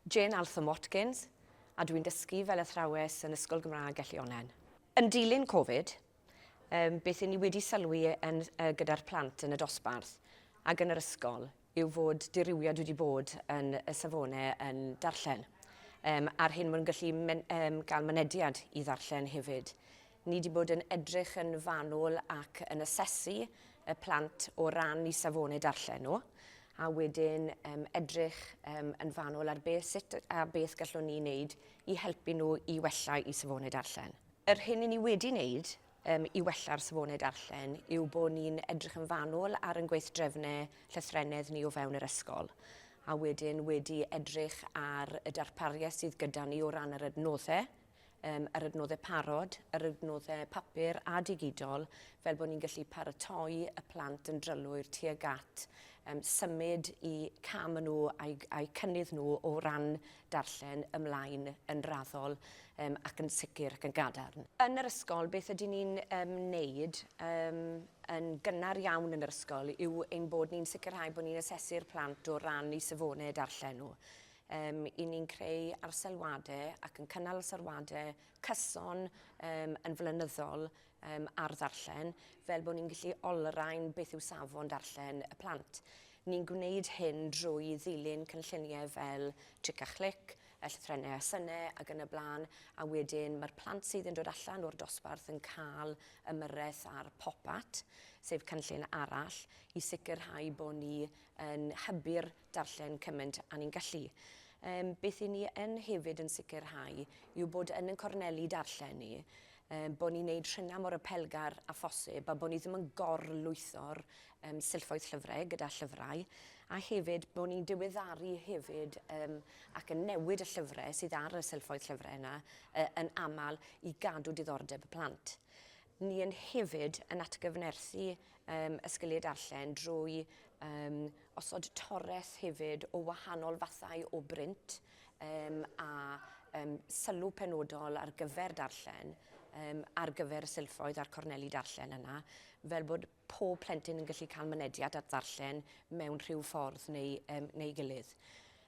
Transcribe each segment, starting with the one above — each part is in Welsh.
Jane Altham-Watkins, a dwi'n dysgu fel athrawes yn Ysgol Gymraeg Elli-Onnen. Yn dilyn Covid, beth i ni wedi sylwi yn gyda'r plant yn y dosbarth ac yn yr ysgol yw fod dirywiad wedi bod yn y safonau yn darllen, a'r hyn mae'n gallu gael mynediad i ddarllen hefyd. Ni 'di bod yn edrych yn fanwl ac yn asesu y plant o ran i safonau darllen nhw, a wedyn um, edrych um, yn fanwl ar beth, sut a beth gallwn ni wneud i helpu nhw i wella i safonau darllen. Yr hyn i ni wedi wneud um, i wella'r safonau darllen yw bod ni'n edrych yn fanwl ar yn gweithdrefnau llythrennedd ni o fewn yr ysgol a wedyn wedi edrych ar y darpariaeth sydd gyda ni o ran yr adnoddau yym, yr adnoddau parod, yr adnoddau papur a digidol, fel bod ni'n gallu paratoi y plant yn drylwyr tuag at um, symud i cam yn nhw a'i, a'i cynnydd nhw o ran darllen ymlaen yn raddol um, ac yn sicr ac yn gadarn. Yn yr ysgol, beth ydyn ni'n um, neud um, yn gynnar iawn yn yr ysgol yw ein bod ni'n sicrhau bod ni'n asesu'r plant o ran i safonau darllen nhw. Yym, i ni'n creu arselwade ac yn cynnal arselwade cyson yym, yn flynyddol yym, ar ddarllen, fel bod ni'n gallu olrhain beth yw safon darllen y plant. Ni'n gwneud hyn drwy ddilyn cynlluniau fel Tric a Chlic, y llythrennau a synau ac yn y blaen, a wedyn mae'r plant sydd yn dod allan o'r dosbarth yn cael ymyrraeth ar Pop At, sef cynllun arall, i sicrhau bod ni yn hybu'r darllen cymaint a ni'n gallu. Yym, beth i ni yn hefyd yn sicrhau yw bod yn yn corneli darllen ni, um, bod ni'n neud rhyna mor apelgar a phosib a bod ni ddim yn gorlwytho'r um, silffoedd llyfrau gyda llyfrau a hefyd bod ni'n diweddaru hefyd um, ac yn newid y llyfrau sydd ar y silffoedd llyfrau yna uh, yn aml i gadw diddordeb y plant. Ni yn hefyd yn atgyfnerthu um, ysgiliau darllen drwy um, osod torres hefyd o wahanol fathau o brint um, a um, sylw penodol ar gyfer darllen um, ar gyfer y silffoedd a'r corneli darllen yna fel bod pob plentyn yn gallu cael mynediad at ddarllen mewn rhyw ffordd neu, um, neu gilydd.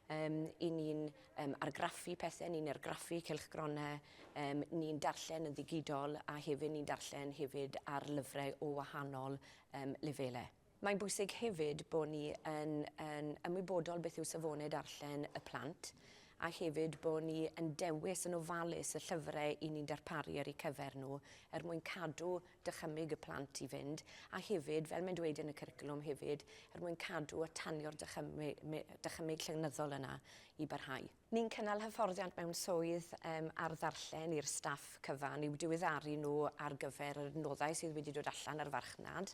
Um, I ni'n um, argraffu pethau, ni'n argraffu cylchgronau, um, ni'n darllen yn ddigidol a hefyd ni'n darllen hefyd ar lyfrau o wahanol um, lefelau. Mae'n bwysig hefyd bod ni yn, yn ymwybodol beth yw safonau darllen y plant a hefyd bod ni yn dewis yn ofalus y llyfrau i ni'n darparu ar eu cyfer nhw er mwyn cadw dychymyg y plant i fynd, a hefyd, fel mae'n dweud yn y cwricwlwm hefyd, er mwyn cadw a tanio'r dychymyg llenyddol yna i barhau. Ni'n cynnal hyfforddiant mewn swydd um, ar ddarllen i'r staff cyfan i'w diweddaru nhw ar gyfer yr nodau sydd wedi dod allan ar farchnad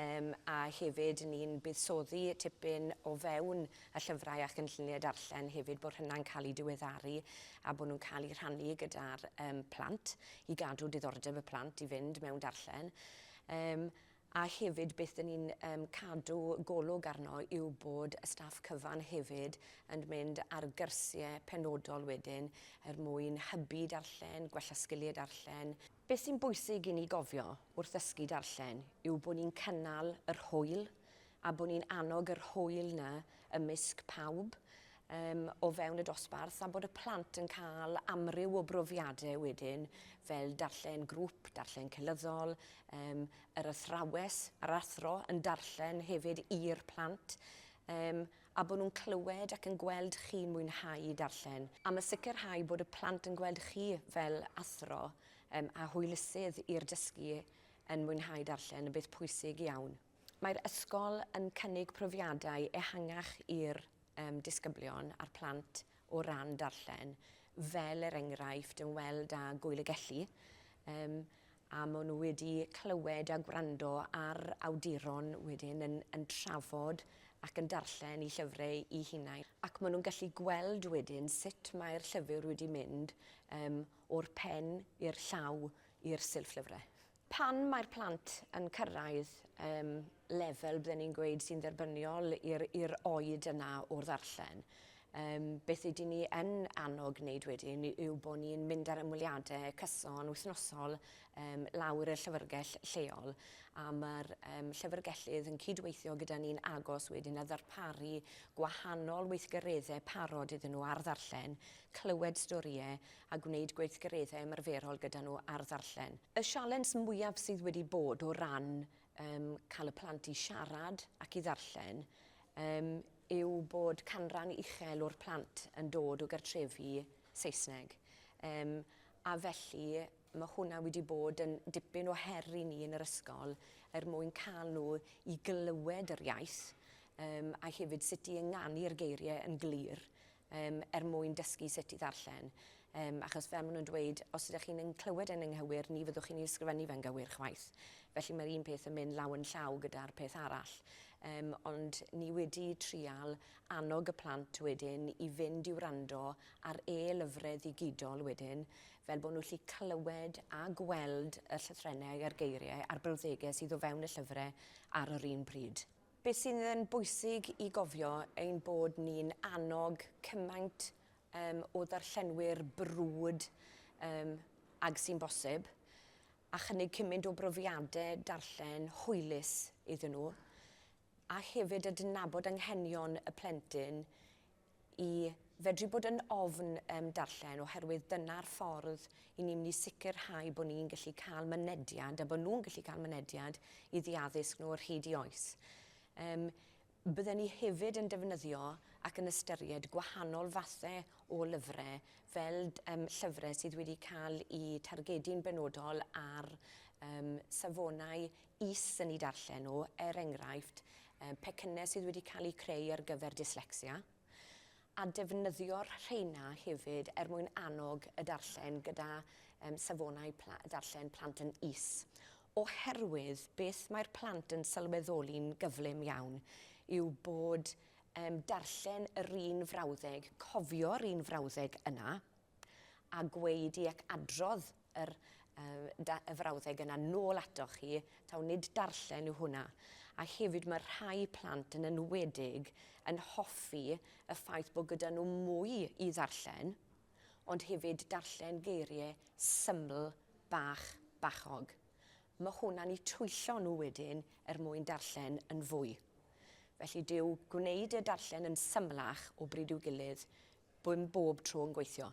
um, a hefyd ni'n buddsoddi tipyn o fewn y llyfrau a chynlluniau darllen hefyd, bod hynna'n cael eu diweddaru a bod nhw'n cael eu rhannu gyda'r um, plant i gadw diddordeb y plant i fynd mewn darllen. Um, a hefyd beth dyn ni'n um, cadw golwg arno yw bod y staff cyfan hefyd yn mynd ar gyrsiau penodol wedyn er mwyn hybu darllen, gwella sgiliau darllen, Beth sy'n bwysig i ni gofio wrth ddysgu darllen yw bod ni'n cynnal yr hwyl, a bod ni'n annog yr hwyl 'na ymysg pawb yym o fewn y dosbarth a bod y plant yn cael amryw o brofiadau wedyn fel darllen grŵp, darllen cynyddol, yym yr athrawes, yr athro yn darllen hefyd i'r plant yym a bod nhw'n clywed ac yn gweld chi'n mwynhau darllen. Am y sicrhau bod y plant yn gweld chi fel athro yym a hwylusydd i'r dysgu yn mwynhau darllen yn beth pwysig iawn. Mae'r ysgol yn cynnig profiadau ehangach i'r um, disgyblion a'r plant o ran darllen, fel er enghraifft yn weld â Gwyl y Gelli, um, a maen nhw wedi clywed a gwrando ar awduron wedyn yn, yn trafod ac yn darllen i llyfrau i hunain. Ac maen nhw'n gallu gweld wedyn sut mae'r llyfr wedi mynd um, o'r pen i'r llaw i'r silff lyfrau. Pan mae'r plant yn cyrraedd um, lefel, bydden ni'n gweud, sy'n dderbyniol i'r oed yna o'r ddarllen, um, beth ydyn ni yn annog wneud wedyn yw bod ni'n mynd ar ymweliadau cyson wythnosol um, lawr y llyfrgell lleol a mae'r um, llyfrgellydd yn cydweithio gyda ni'n agos wedyn a ddarparu gwahanol weithgareddau parod iddyn nhw ar ddarllen, clywed storïau a gwneud gweithgareddau ymarferol gyda nhw ar ddarllen. Y sialens mwyaf sydd wedi bod o ran um, cael y plant i siarad ac i ddarllen um, yw bod canran uchel o'r plant yn dod o gartrefi Saesneg. Um, a felly mae hwnna wedi bod yn dipyn o her i ni yn yr ysgol er mwyn cael nhw i glywed yr iaith um, a hefyd sut i ynganu'r geiriau yn glir yym, er mwyn dysgu sut i ddarllen, yym, achos fel maen nhw'n dweud, os ydych chi'n yn clywed e'n ynghywir, ni fyddwch chi'n ei ysgrifennu fe'n gywir chwaith. Felly mae'r un peth yn mynd law yn llaw gyda'r peth arall. Yym, ond ni wedi trial annog y plant wedyn i fynd i wrando ar e-lyfrau ddigidol wedyn, fel bod nhw'n gallu clywed a gweld y llythrennau a'r geiriau a'r brawddegau sydd o fewn y llyfrau ar yr un pryd. Beth sydd yn bwysig i gofio ein bod ni'n annog cymaint um, o ddarllenwyr brwd um, ag sy'n bosib, a chynnig cymaint o brofiadau darllen hwylus iddyn nhw, a hefyd adnabod anghenion y plentyn i fedru bod yn ofn um, darllen oherwydd dyna'r ffordd i ni'n mynd i sicrhau bod ni'n gallu cael mynediad a bod nhw'n gallu cael mynediad i ddiaddysg nhw o'r hyd i oes. Um, Bydden ni hefyd yn defnyddio ac yn ystyried gwahanol fathau o lyfrau fel um, llyfrau sydd wedi cael eu targedu'n benodol ar um, safonau is yn eu darllen nhw, er enghraifft, pecynnau sydd wedi cael eu creu ar gyfer dyslecsia, a defnyddio'r rheina hefyd er mwyn annog y darllen gyda safonau darllen plant yn is. Oherwydd beth mae'r plant yn sylweddoli'n gyflym iawn yw bod darllen yr un frawddeg, cofio'r un frawddeg yna a gweud i ac adrodd yr y frawddeg yna nôl atoch chi, taw nid darllen yw hwnna. A hefyd mae rhai plant yn enwedig yn hoffi y ffaith bod gyda nhw mwy i ddarllen, ond hefyd darllen geiriau syml bach bachog. Mae hwnna'n eu twyllo nhw wedyn er mwyn darllen yn fwy. Felly dyw gwneud y darllen yn symlach o bryd i'w gilydd ddim bob tro yn gweithio.